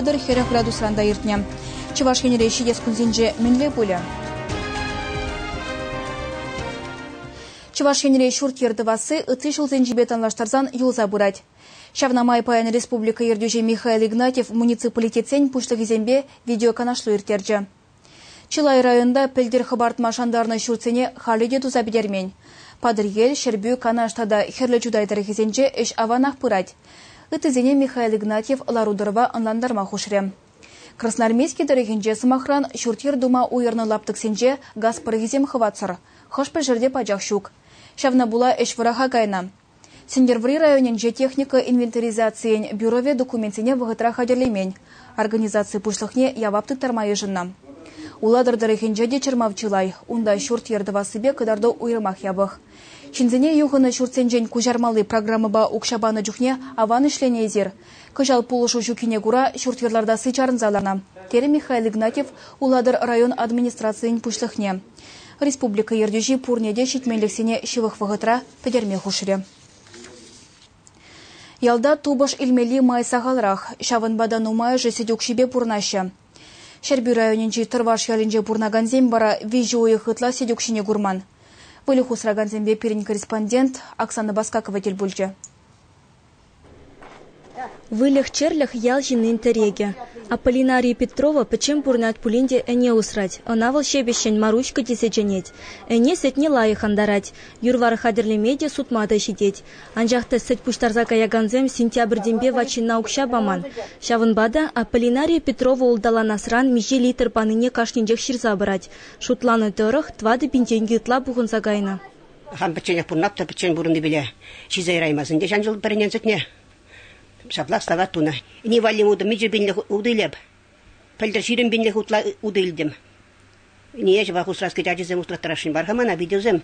пӗлтӗр хӗрӗх градусран та иртнӗ. Чӑваш Енре ҫитес кунсенче мӗнле пулӗ? Чӑваш Енре ҫурт-йӗр тӑвасси ытти ҫулсенчипе танлаштарсан юлса пырать. Ҫавна май паян республика ертӳҫи Михаил Игнатьев муниципалитетсен пуҫлӑхӗсемпе видеоканашлу ирттерчӗ. Чылай районта пӗлтӗр хӑпартма шантарнӑ ҫуртсене халӗ те туса пӗтермен. Патӑрьел, Ҫӗрпӳ, Канаш тата Хӗрлӗ Чутай тӑрӑхӗсенче ӗҫ аванах пырать. Ыттисене Михаил Игнатьев лару-тӑрӑва ӑнлантарма хушрӗ. Красноармейски тӑрӑхӗнче, сӑмахран, ҫурт-йӗр тума уйӑрнӑ лаптӑксенче газ пӑрӑхӗсем хӑватсӑр. Хӑш-пӗр ҫӗрте пачах ҫук. Ҫавна пула ӗҫ вӑраха кайнӑ. Сӗнтӗрвӑрри районӗнче техника инвентаризацийӗн бюровӗ документсене вӑхӑтра хатӗрлемен, организаци пуҫлӑхне явап тыттарма йышӑннӑ. Улатӑр тӑрӑхӗнче те чӑрмав чылай, унта ҫурт-йӗр тӑвассипе кӑтарту уйрӑмах япӑх. Ҫынсене юхӑннӑ ҫуртсенчен куҫармалли программӑпа укҫа панӑ чухне аван ӗҫленӗ эсир. Кӑҫал пулӑшу ҫуккине кура ҫурт-йӗр лартасси чарӑнса ланӑ, терӗ Михаил Игнатьев Улатӑр район администрацийӗн пуҫлӑхне. Республика ертӳҫи пурне те ҫитменлӗхсене ҫывӑх вӑхӑтра пӗтерме хушрӗ. Ялта тупӑш илмелли май сахалрах, ҫавӑнпа та нумайӑшӗ сӗт укҫипе пурӑнаҫҫӗ. Ҫӗрпӳ районӗнчи Тӑрваш ялӗнче пурӑнакансем вара виҫӗ уйӑх ытла сӗт укҫине курман. Выльӑх усракансемпе пирӗн корреспондент Оксана Баскакова тӗл пулчӗ. Выльӑх-чӗрлӗх ял ҫыннин тӗрекӗ. Аполлинария Петрова пӗччен пурӑнать пулин те ӗне усрать. Ӑна вӑл ҫепӗҫҫӗн Маруська тесе чӗнет. Ӗне сӗтне лайӑх антарать, юр-вар хатӗрлеме те, сутма та ҫитет. Анчах та сӗт пуҫтарса каякансем сентябрьтенпе ват ҫынна укҫа паман. Ҫавӑнпа та Аполлинария Петрова улталанасран миҫе литр панине кашнинчех ҫырса пырать. Шутланӑ тӑрӑх, тӑватӑ пин тенкӗ ытла пухӑнса кайнӑ. Хам пӗчченех пурӑнат та пӗччен пурӑннипеле ҫисе яраймасть ӗнтӗ ҫан ҫул пӗрӗнен сӗтне. Ҫаплах стават тунӑ. Ини валли утӑ мичӗ пинлӗх утӑ илеп. Пӗлтӗр ҫирӗм пинлӗх утла утӑ илтӗм. Ние ҫӑпах усраски ачисем усраттарасшӑн бар-ха мана, питӗсем.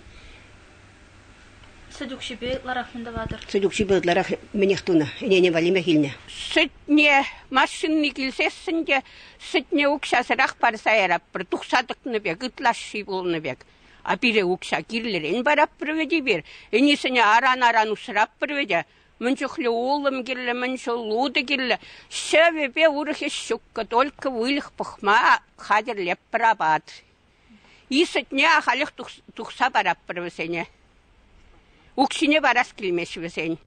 Сӗт укҫипе ытларах мӗн тӑватӑр? Сӗт укҫипе ытларах мӗнех тунӑ, ӗнене валлимех илнӗ. Сӗтне машинни килсессӗн те сӗтне укҫасӑрах парса яратпӑр, тухса тӑкнӑ пек, ытлашши пулнӑ пек. А пире укҫа кирлӗрен параппӑр вӗт эпир, ӗнисене аран-аран усраппӑр вӗт. Мӗн чухлӗ улӑм кирлӗ, мӗн чул утӑ кирлӗ. Ҫӑвӗпе урӑх ӗҫ ҫуккӑ, только выльӑх пӑхма хатӗрлеппӗр апат. Исӗтне ахалех тухса параппӑр вӗсене. Укҫине парас килмест вӗсен.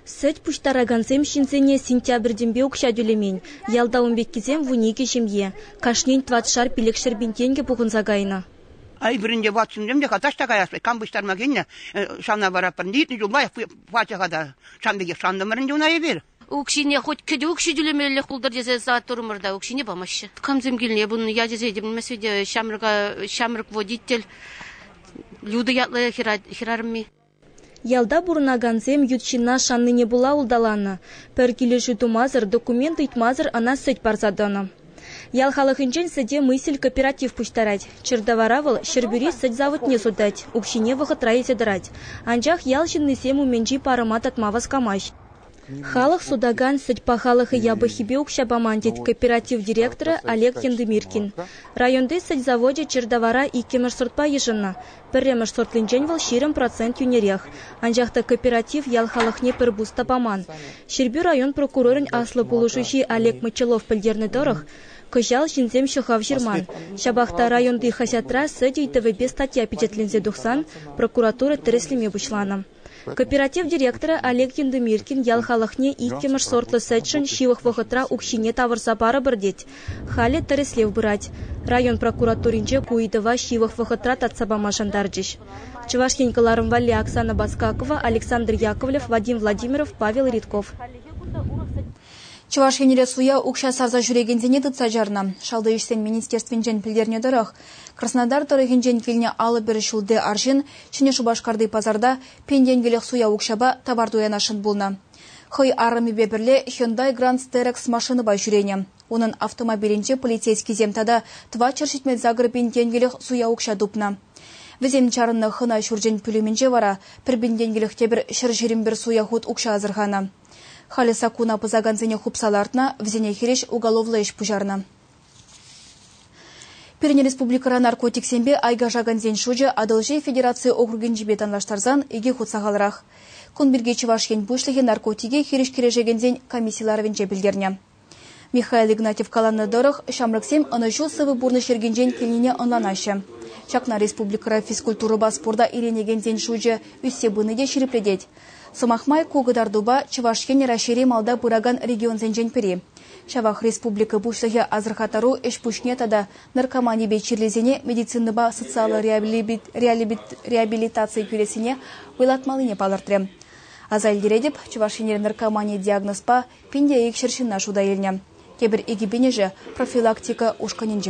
Сӗт пуҫтаракансем ҫынсене сентябрьтенпе укҫа тӳлемен. Ялта ун пеккисем вун икӗ ҫемье. Кашнин тӑватшар пилӗкҫӗр пин тенкӗ пухӑнса кайнӑ. Ай вырӑнне ватсунсем те таҫта каясшӑн. Кам пуҫтарма килнӗ, ҫавна вараппӑр. Иртнӗ ҫулпа пачӑ-ха та. Сан пекех шантӑмӑрӑнчӗ una эпир. Укҫине хоть кӗтӳ укҫи тӳлемеллех пултӑр тесе саттурӑмӑр та укҫине памаҫҫӗ. Камсем килне пулнӑ ячӗ сетӗм меслете ҫамрӑка ҫамрӑк водитель Люда ятлӑ хӗрарӑмми. Ялта пурӑнакансем ют ҫынна шаннине пула улталанӑ, пӗр килӗшӳ тумасӑр документ ыйтмасӑр ӑна сӗт парса тӑнӑ. Ял халӑхӗнчен сӗте мысель кооператив пуҫтарать. Чӗртавара вӑл Ҫӗрпӳри сӗт заводне сутать, укҫине вӑхӑтра илсе тӑрать. Анчах ял ҫыннисем умӗнчи парӑма татма васкамасть. Халӑх сутакан сӗт пахалӑхӗ япӑххипе укҫа паман, тет кооператив директорӗ Олег Яндымиркин. Районти сӗт завочӗ чир тавара иккӗмӗш сортпа йышӑннӑ. Пӗрремӗш сортлинчен вӑл ҫирӗм процент йӳнерех. Анчах та кооператив ял халӑхне пӗр пус та паман. Ҫӗрпӳ район прокурорӗн аслӑ пулӑшуҫи Олег Мочалов пӗлтернӗ тӑрӑх, кӑҫал ҫынсем ҫӑхав ҫырман. Ҫапах та районти хаҫатра сӗт ыйтӑвӗпе статья пичетленсе тухсан прокуратура тӗрӗслеме пуҫланӑ. Кооператив директорӗ Олег Яндымиркин ял халӑхне иккӗмӗш сортлӑ сӗтшӗн ҫывӑх вӑхӑтра укҫине тавӑрса парӑпӑр тет. Халӗ тӗрӗслев пырать. Район прокуратуринче ку ыйтӑва ҫывӑх вӑхӑтра татса пама шантарчӗҫ. Чӑваш Ен кӑларӑм валли Оксана Баскакова, Александр Яковлев, Вадим Владимиров, Павел Ридков. Чӑваш Енре суя укҫа сарса ҫӳрекенсене тытса чарнӑ. Шалти ӗҫсен министерствинчен пӗлтернӗ тӑрӑх, Краснодар тӑрӑхӗнчен килнӗ алӑ-пӗр ҫулти арҫын Ҫӗнӗ Шупашкарти пасарта пин-тенкӗлӗх суя укҫапа тавар туянасшӑн пулнӑ. Хӑй арӑмӗпе пӗрле Hyundai Grand Sterex машинӑпа ҫӳренӗ. Унӑн автомобилӗнче полицейскисем тата тӑватҫӗр ҫитмен сакӑр пин-тенкӗлӗх суя укҫа тупнӑ. Вӗсем чарӑннӑ хӑна ҫурчӗн пӳлӗмӗнче вара пӗр пин тенкӗлӗх те пӗр ҫӗр ҫирӗмпӗр суя хут укҫа асӑрханӑ. Халӗ саккуна пӑсакансене хупса лартнӑ, вӗсене хирӗҫ уголовлӑ ӗҫ пуҫарнӑ. Пирӗн республикӑра наркотиксемпе айкашакансен шучӗ Атӑлҫи федераци округӗнчипе танлаштарсан икӗ хут сахалрах. Кун пирки Чӑваш Ен Пуҫлӑхӗ наркотике хирӗҫ кӗрешекенсен комисси ларӑвӗнче пӗлтернӗ. Михаил Игнатьев каланӑ тӑрӑх, ҫамрӑксем ӑнӑҫу сывӑ пурнӑҫ йӗркинчен килнине ӑнланаҫҫӗ. Ҫакна республикӑра физкультурӑпа спорта иленекенсен шучӗ ӳссе пыни те ҫирӗплетет. Сӑмах май, ку кӑтартупа Чӑваш Ен Раҫҫейри малта пыракан регионсенчен пӗри. Ҫавах республика Пуҫлӑхӗ асӑрхаттару ӗҫ-пуҫне тата наркоманипе чирлисене медицинӑпа социаллӑ реабилитацие кӳрессине вӑйлатмаллине палӑртрӗ. Аса илтеретӗп, Чӑваш Енре наркомани диагнозпа пин те икҫӗр ҫынна шута илнӗ. Тепӗр икӗ пинӗшӗ профилактика ушкӑнӗнче тӑнӑ.